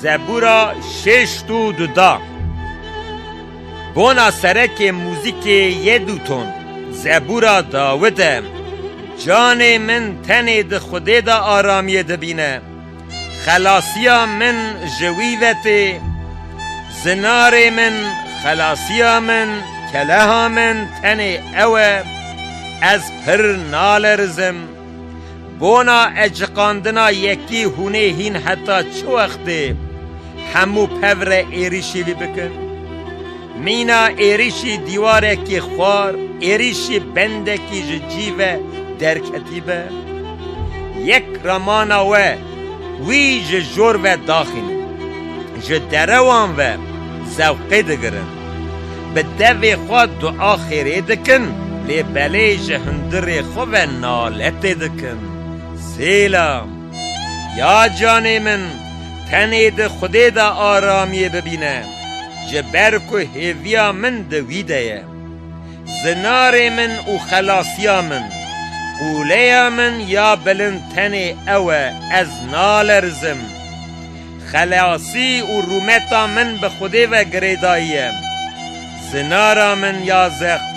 Zebûra şêşt û du da. Bona serekê muzîkê yê dûton, Zebûra Dawid e. Canê min tenê di Xwedê de aramiyê dibîne. Xelasiya min ji wî ve tê. Zinarê min, xelasiya min, keleha min tenê ew e. Ez pir nalerizim. Bona eciqandina yekî hûnê hîn heta çi wextê hemû pevre êrîşî vî bikin? Mîna êrîşî dîwarekî xwar, êrîşî bendekî ji cî ve derketî be? Yek ramana we wî ji jor ve daxînin. Ji derewan ve zewqê digirin. Bi devê xwe dua xêrê dikin, lê belê ji hundirê xwe ve naletê dikin. Sêlam. Ya canê min, tenê di Xwedê de aramiyê bibîne, ji ber ku hêviya min di wî de ye. Zinarê min û xelasiya min, qûleya min ya bilind tenê ew e, ez nalerizim. Xelasî û rûmeta min bi Xwedê ve girêdayiye. Zinara min ya zext,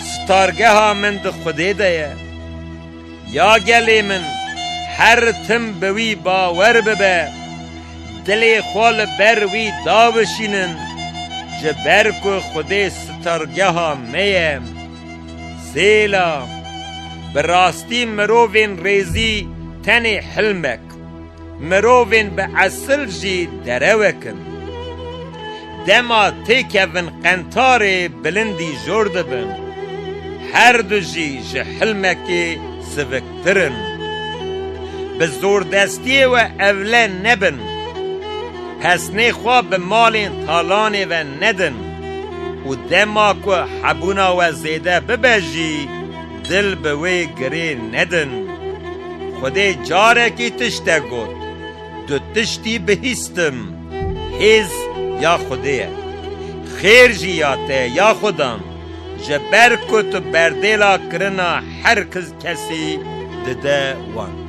sitargeha min di Xwedê de ye. Ya gelê min, her tim bi wî bawer bibe, dilê xwe li ber wî dabişînin, ji ber ku Xwedê sitargeha me ye. Zêla, Bi rastî mirovên rêzî tenê hilmek. xelk mirovên bi esil jî derewek in. Dema têkevin qentarê bilindî jor dibin. Her du jî ji hilmekê siviktir in. Bi zordestiyê we evle nebin. Pesnê xwe bi malên talanê ve nedin û dema ku hebûna we zêde bibe jî, Dil bi wê girê nedin. Xwedê carekî tiştek got, Du tiştî bihîstim, hêz ya Xwedê ye. Xêr jî ya te ye ya Xwedan, ji ber ku tu berdêla kirina her kesî dide wan.